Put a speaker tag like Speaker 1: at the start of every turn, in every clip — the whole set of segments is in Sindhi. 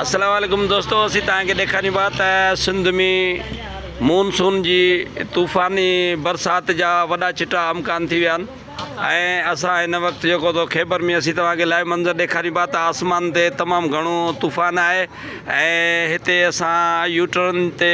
Speaker 1: السلام عليڪم دوستو اسين تان کي ڏيکاريون پيا ته سنڌ ۾ مونسون جي طوفاني برسات جا وڏا چٽا امڪان ٿي ويا آهن اسان هن وقت جيڪو تو خيبر ۾ اسين توهان کي لائيو منظر ڏيکاريون پيا ته آسمان تي تمام گهڻو طوفان آهي ۽ هتي اسان يوٽرن تي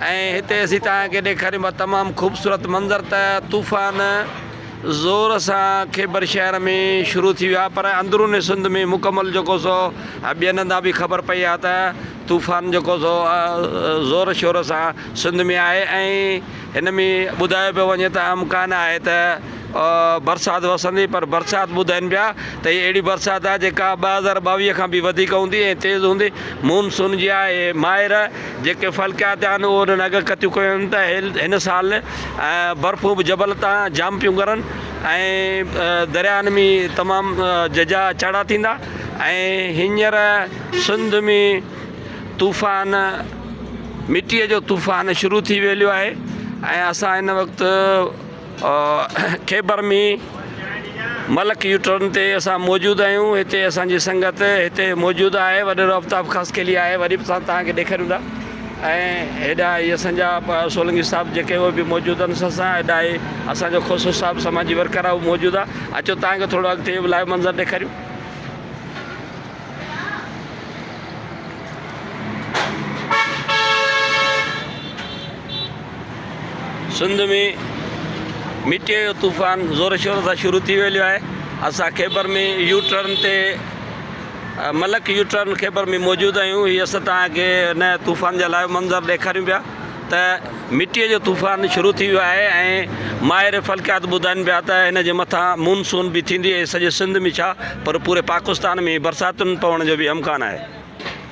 Speaker 1: ۽ هتي اسين توهان کي ڏيکاريون پيا تمام خوبصورت منظر ته طوفان زور سان خيبر شهر ۾ شروع ٿي ويو آهي پر اندروني سنڌ ۾ مڪمل جيڪو سو ٻين هندا به خبر پئي آهي ته طوفان جيڪو سو زور شور سان سنڌ ۾ آهي ۽ هن ۾ ٻڌايو پيو وڃي ته امڪان آهي ته برسات وسندي پر برسات ٻڌائين پيا ته هي اهڙي برسات آهي جيڪا ٻه هزار ٻاويهه کان به وڌيڪ هوندي ۽ تيز هوندي مون سون جي آء اهي ماهر جيڪي فلڪيات آهن اهو انهن اڳ ڪتيون ڪيون آهن ته هن سال برفون به جبل تان جام پيون ڳرن ۽ درياهن ۾ تمام ججا چڙا ٿيندا ۽ هينئر سنڌ ۾ طوفان مٽيء جو طوفان شروع ٿي ويليو آهي ۽ اسان هن وقت خيبر ۾ ملڪ يو ٽرن تي اسان موجود آهيون هتي اسان جي سنگت هتي موجود آهي وڏيرو آفتاب خاص کي لي آهي وري به اسان تان کي ڏيکاريون ٿا ۽ هيڏا هي اسان جا سولنگي صاحب جيڪي هو به موجود آهن اسان سان هيڏا هي اسان جو خوسو صاحب سماجي ورڪر آهي موجود آهي اچو تان کي ٿورو اڳتي لائيو منظر ڏيکاريون سنڌ ۾ مٽيء جو طوفان زور شور سان شروع ٿي ويليو آهي اسان خيبر ۾ يو ٽرن تي ملڪ يو ٽرن خيبر ۾ موجود آهيون هي اسان تان کي هن طوفان جا لائيو منظر ڏيکاريون پيا ته مٽيء جو طوفان شروع ٿي ويو آهي ۽ ماهر فلڪيات ٻڌائين پيا ته هن جي مٿان مونسون به ٿيندي ۽ سڄي سنڌ ۾ ڇا پر پوري پاڪستان ۾ برساتن پوڻ جو به امڪان آهي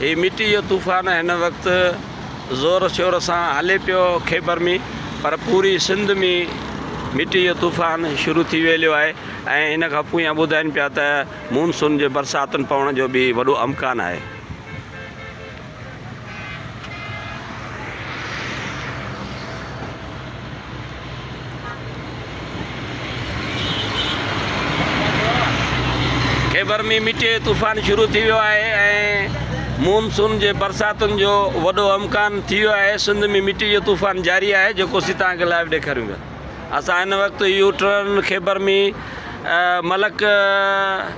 Speaker 1: هي مٽي جو طوفان هن وقت زور شور سان هلي پيو خيبر ۾ پر پوري سنڌ ۾ مٽي جو طوفان شروع ٿي ويليو آهي ۽ ان کان پويان ٻڌائين پيا ته مونسون جي برساتن پوڻ جو به وڏو امڪان آهي خيبر ۾ ميٽي طوفان شروع ٿي ويو آهي ۽ مون سون جي برساتن جو وڏو امڪان ٿي ويو آهي سنڌ ۾ ميٽي جو طوفان جاري آهي جيڪو اسين توهان کي لائيو ڏيکاريون پيا اسان هن وقت يوٽرن خيبر ۾ ملڪ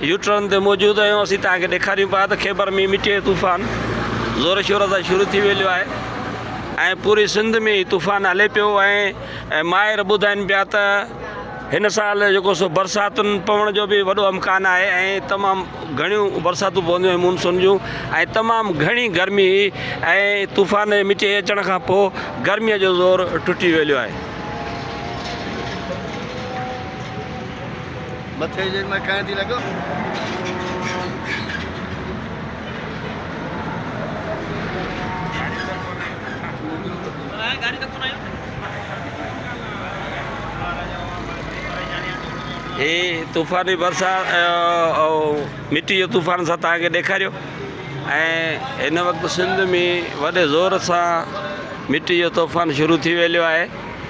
Speaker 1: يوٽرن تي موجود آهيون اسين تان کي ڏيکاريون پيا ته خيبر ۾ مٽي جو طوفان زور شور سان شروع ٿي ويلو آهي ۽ پوري سنڌ ۾ هي طوفان هلي پيو ۽ ماهر ٻڌائن پيا ته هن سال جيڪو سو برساتن پوڻ جو به وڏو امڪان آهي ۽ تمام گهڻيون برساتون پونديون آهن مونسون جون ۽ تمام گهڻي گرمي ۽ طوفان مٽي اچڻ کان پوء گرميء جو زور ٽٽي ويلو آهي
Speaker 2: مٿي جي ۾ کائين ٿي لڳو
Speaker 1: هي طوفاني برسات مٽي جو طوفان سان تان کي ڏيکاريو ۽ هن وقت سنڌ ۾ وڏي زور سان مٽي جو طوفان شروع ٿي ويليو آهي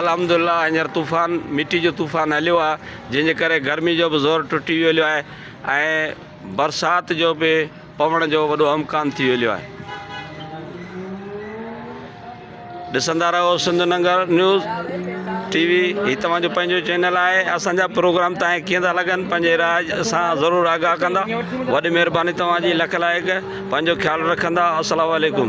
Speaker 1: الحمدالله هينئر طوفان مٽي جو طوفان هليو آهي جنهن جي ڪري گرمي جو به زور ٽٽي ويليو آهي ۽ برسات جو به پوڻ جو وڏو امڪان ٿي ويليو آهي ڏسندا رهو Sindh Nagar news T V هي توهان جو پنهنجو چينل آهي اسان جا پروگرام تائیں ڪيئن ٿا لڳن پنهنجي راج سان ضرور آگاهه ڪندا وڏي مهرباني توهان جي لک لائق پنهنجو خيال رکندا السلام عليڪم